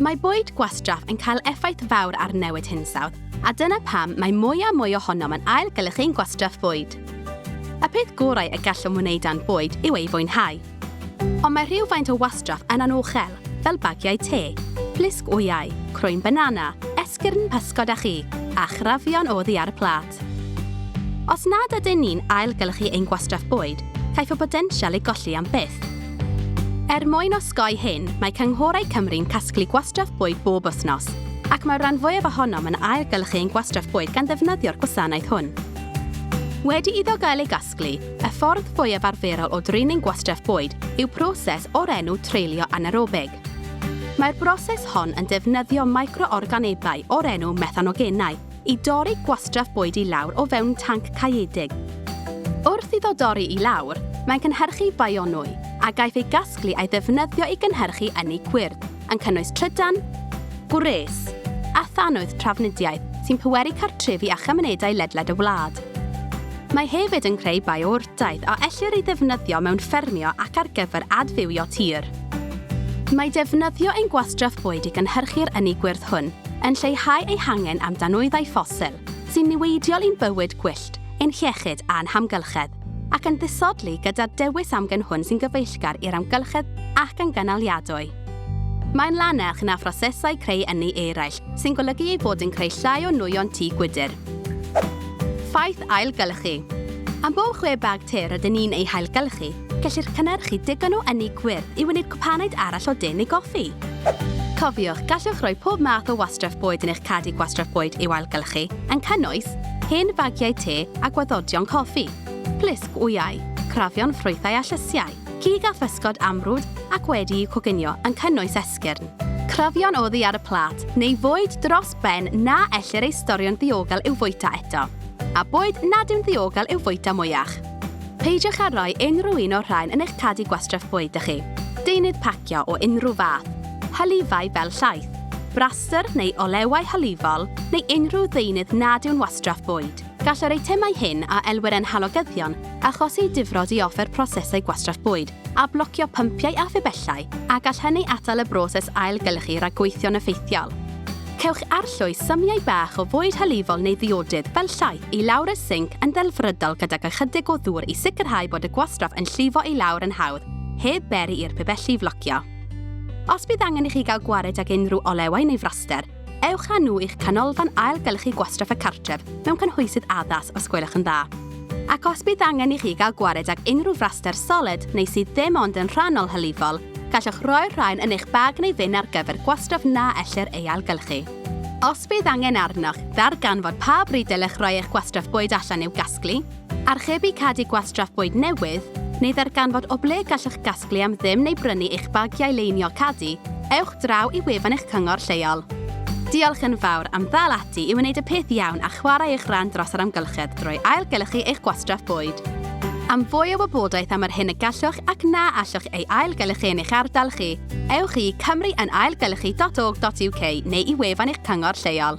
Mae bwyd gwastraff yn cael effaith fawr ar newid hinsawdd, a dyna pam mae mwy a mwy ohonom yn ailgylchu ein gwastraff bwyd. Y peth gorau y gallwn wneud â'n bwyd yw ei fwynhau. Ond mae rhywfaint o wastraff yn anochel, fel bagiau te, plisg wyau, croen banana, esgyrn pysgod a chig, a chrafion oddi ar y pla. Os nad ydyn ni'n ailgylchu ein gwastraff bwyd, caiff y botensial ei golli am byth. Er mwyn osgoi hyn, mae cynghorau Cymru'n casglu gwastraff bwyd bob wythnos, ac mae'r rhan fwyaf ohonom yn ailgylchu ein gwastraff bwyd gan ddefnyddio'r gwasanaeth hwn. Wedi iddo gael ei gasglu, y ffordd fwyaf arferol o drin ein gwastraff bwyd yw proses o'r enw treulio anaerobig. Mae'r broses hon yn defnyddio micro-organebau o'r enw methanogenau, i dorri gwastraff bwyd i lawr o fewn tanc caeedig. Wrth iddo dorri i lawr, mae'n cynhyrchu bionwy, a gaiff ei gasglu a'i ddefnyddio i gynhyrchu ynni cwyrdd, yn cynnwys trydan, gwres, a thanwydd trafnidiaeth sy'n pweru cartrefi a chymunedau ledled y wlad. Mae hefyd yn creu bio Daeth a ellir ei ddefnyddio mewn ffermio ac ar gyfer adfywio tir. Mae defnyddio ein gwastraff bwyd i gynhyrchu'r ynni gwyrdd hwn yn lleihau ei hangen am danwyddau ffosil, sy'n niweidiol i'n bywyd gwyllt, ein hiechyd a'n hamgylchedd, ac yn ddisodli gyda'r dewis amgen hwn sy'n gyfeillgar i'r amgylchedd ac yn gynaliadwy. Mae'n lanach na phrosesau creu ynni eraill, sy'n golygu ei bod yn creu llai o nwyon tŷ gwydr. Ffaith ailgylchu. Am bob chwe bag te rydyn ni'n eu hailgylchu, gellir cynhyrchu digon o ynni gwyrdd i wneud cwpanaid arall o de neu goffi. Cofiwch, gallwch roi pob math o wastraff bwyd yn eich cadi gwastraff bwyd i'w ailgylchu, yn cynnwys, hen fagiau te a gwaddodion coffi, plisg wyau, crafion ffrwythau a llysiau. Cig a physgod amrwd ac wedi'u coginio yn cynnwys esgyrn. Clybion oddi ar y plât, neu fwyd dros ben na ellir ei storio'n ddiogel i'w fwyta eto, a bwyd nad yw'n ddiogel i'w fwyta mwyach. Peidiwch â rhoi unrhyw un o'r rhain yn eich cadi gwastraff bwyd da chi. Deunydd pacio o unrhyw fath, hylifau fel llaeth, brastr neu olewau hylifol neu unrhyw ddeunydd nad yw'n wastraff bwyd. Gall yr eitemau hyn a elwir yn halogyddion achosi difrod i offer prosesau gwastraff bwyd a blocio pympiau a phibellau a gall hynny atal y broses ailgylchu rhag gweithio'n effeithiol. Cewch arllwys symiau bach o fwyd hylifol neu ddiodydd fel llaeth i lawr y sinc yn ddelfrydol gydag ychydig o ddŵr i sicrhau bod y gwastraff yn llifo i lawr yn hawdd heb beri i'r pibelli flocio. Os bydd angen i chi gael gwared ag unrhyw olewau neu fraster, Ewch â nhw i'ch Canolfan Ailgylchu Gwastraff y Cartref mewn cynhwysydd addas os gwelwch yn dda. Ac os bydd angen i chi gael gwared ag unrhyw fraster soled neu sydd ddim ond yn rhannol hylifol, gallwch roi'r rhain yn eich bag neu fin ar gyfer gwastraff na ellir ei ailgylchu. Os bydd angen arnoch ddarganfod pa bryd dylech roi eich gwastraff bwyd allan i'w gasglu, Archebu cadi gwastraff bwyd newydd, neu ddarganfod o ble gallwch gasglu am ddim neu brynu eich bagiau leinio cadi, ewch draw i wefan eich cyngor lleol. Diolch yn fawr am ddal ati i wneud y peth iawn a chwarae eich rhan dros yr amgylchedd drwy ailgylchu eich gwastraff bwyd. Am fwy o wybodaeth am yr hyn y gallwch ac na allwch ei ailgylchu yn eich ardal chi, ewch i cymruynaailgylchu.org.uk neu i wefan eich cyngor lleol.